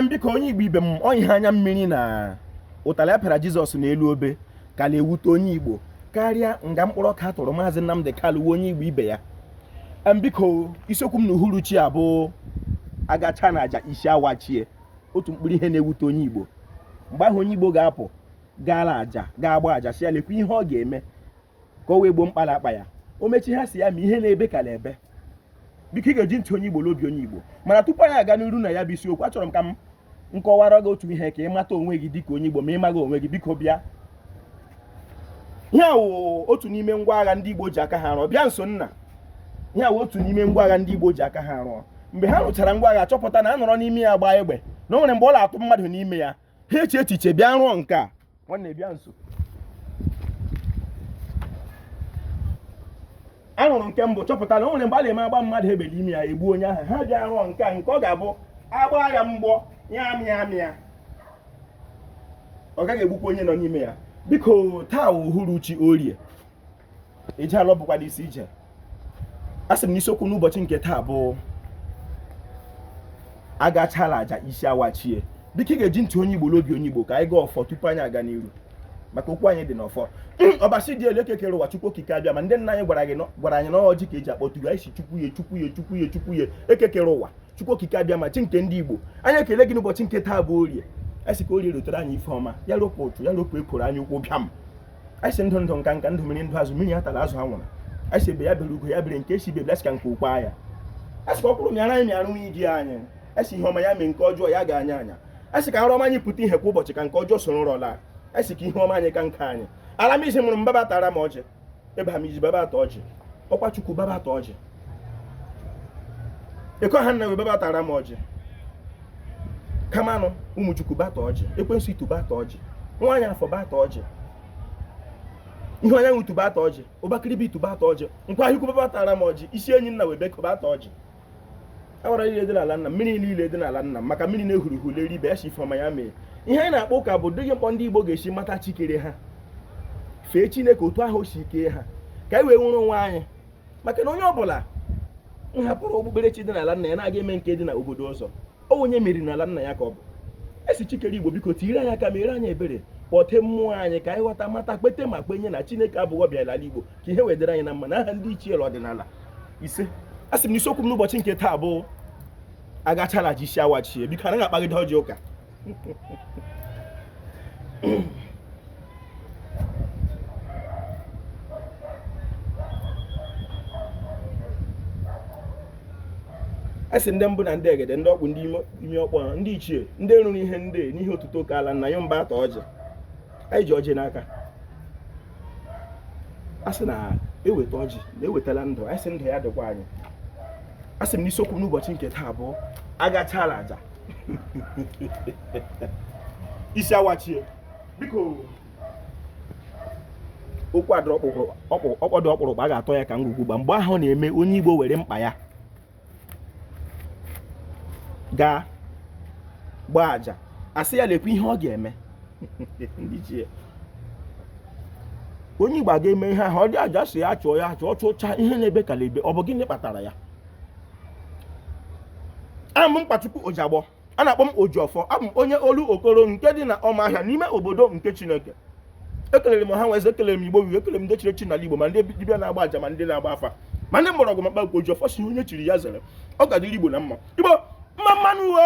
biko onye igbo ibe m ọ ihe anya mmiri na ụtarị a pịara jizọs n'elu obe ka na-ewute onye igbo karịa nga mkpụrụ ọka a tụrụ maazị nnamdi kanu onye igbo ibe ya biko isiokwu m na uhuruchi a bụ agacha na aja isi awachie otu mkpụrụ ihe na-ewute onye igbo mgbe ahụ onye igbo ga-apụ gaala aja ga-agba aja sị ya lekwa ihe ọ ga-eme ka o wee gboo mkpa na-akpa ya o mechi ha sị ya ma ihe na-ebe ka na-ebe biko ị ga-eji ntị onye igbo na obi onye igbo mana tupu anyị aga n'iru na ya bụ isiokwu achọrọ m ka m kọwara gị otu ihe ka ị mata onwe gị dịka onye igbo ma ị maghị onwe gị biko bịa ihe a wụ otu n'ime ngwa agha ndị igbo ji aka ha rụọ bịa nso nna ihe a wụ otu n'ime ngwa agha ndị igbo ji aka ha rụọ mgbe ha rụchara ngwa agha chọpụta na a nọrọ n'ime ya gbaa egbe na o nwere mgbe ọ na-atụ mmadụ n'ime ya ha eche echiche bịa rụọ nke a nwanne bịa nso a rụrụ nke mbụ chọpụta na o nwere mgbe a na-eme a gbaa mmadụ egbe n'ime ya egbu onye ahụ ha bịa rụọ nke a nke ọ ga-abụ a gbaa ya mgbọ ya amịa amịa ọ gaghị egbukwa onye nọ n'ime ya biko taa uhuruchi orie eje alọ bụkwanụ isi ije asị m na isiokwu n'ụbọchị nke taa bụ agachala aja isi awachie biko ị ga-eji ntị onye igbo na obi onye igbo ka anyị gọọ ọfọ tupu anyị aga n'iru maka okwu anyị dị n'ọfọ ọbasi dị elu eke kere ụwa chukwu okike abịama ndị nna anyị gwara anyị na ọ ọjị ka eji akpọtu ya anyị sị chukwu ya chukwu ya chukwu ya chukwu ya eke kere ụwa chukwu okike abịama chi nke ndị igbo anyị ekele gị n'ụbọchị nke taa bụ orie anyị sị ka orie rotere anyị ife ọma ya ropụ ụtụ ya ropụ ekworo anya ukwu bịam anyị sị ndụ ndụ nka nka ndụ mmiri ndụ azụ mmiri atala azụ anwụla anyị sị egbe ya bere ugo ya bere nke sị ibe ebela sị ka nku kwaa ya asị ka ọkwụrụ mịara anyị mịara nwunye di anyị asị ihe ọma ya mee nke ọjọọ ya ga anya anya asị ka nrọ ọma anyị pụta ihe kwa ụbọchị ka nke ọjọọ soro nrọ laa asị ka ihe ọma anyị ka nke anyị ala amizi mụrụ m bịa bịa taara m ọjị ịba amizi bịa bịa taa ọjị ọkwa chukwu bịa bịa taa ọjị ekwe ha nna webe bịa taara m ọjị kamanụ ụmụchukwu bịa taa ọjị ekwensu itu bịa taa ọjị nwaanyị afọ bịa taa ọjị ihe onye nwutu bịa taa ọjị ụbakịrịbe itu bịa taa ọjị nkwa ahịkwu bịa taara m ọjị isi enyi nna webe bịa taa ọjị agbara niile dị n'ala nna mmiri niile dị n'ala nna maka mmiri na-ehuru ihu leri ibe ya sị ife ọma ya mee ihe anyị na-akpa ụka bụ dịghị mkpọ ndị Igbo ga-esi mata chi kere ha fee Chineke otu ahụ si kee ha ka anyị wee nwere onwe anyị maka na onye ọbụla hapụrụ okpukperechi dị n'ala nna ya na-aga eme nke dị na obodo ọzọ ọ onye e meriri n'ala nna ya ka ọ bụ asị chi kere igbo biko tinyere anyị aka mere anyị ebere kpọte mmụọ anyị ka anyị ghọta mata kpete ma kpenye na chineke abụghị ọbịa n'ala igbo ka ihe wee dịrị anyị na mma na aha ndị ichie ọdịnala ise asị m na isiokwu m n'ụbọchị nke taa bụ agachala aja isi awachie biko anaghị akpagide ọjị ụka a sị ndị mbụ na ndị egede ndị ọkpụ ndị ime ọkpọ ndị ichie ndị rụrụ ihe ndị n'ihe otuto ka ala nna ya mba ata ọjị anyị ji ọjị n'aka a sị na e weta ọjị na e wetala ndụ anyị sị ndụ ya dịkwa anyị a sị m n'isiokwu n'ụbọchị nke taa bụ agachala aja isi awachie biko okwu a dịrị ọkpọdụ ọkpụrụkpụ a ga-atọ ya ka ngwugwu gba mgbe ahụ na-eme onye Igbo were mkpa ya gaa gbaa aja a sị ya lekwa ihe ọ ga-eme onye Igbo aga eme ihe ahụ ọ dị aja a sị ya chụọ ya chụọ chụcha ihe na-ebe ka na-ebe ọ bụ gịnị kpatara ya abụ m Mkpachukwu Ojagbọ a na-akpọ m Ojiọfọ abụ m onye Olokoro nke dị na Ụmụahịa n'ime obodo nke Chineke ekelere m ọha na eze ekelere m Igbo wuru ekelere m ndị chiri echi n'ala Igbo ma ndị dibịa na-agba aja ma ndị na-agba afa ma ndị mgbọrọgwụ ma mkpa Ojiọfọ sị onye chiri ya zere ọ ga-adịrị Igbo na mma Igbo mma mma nụ uwe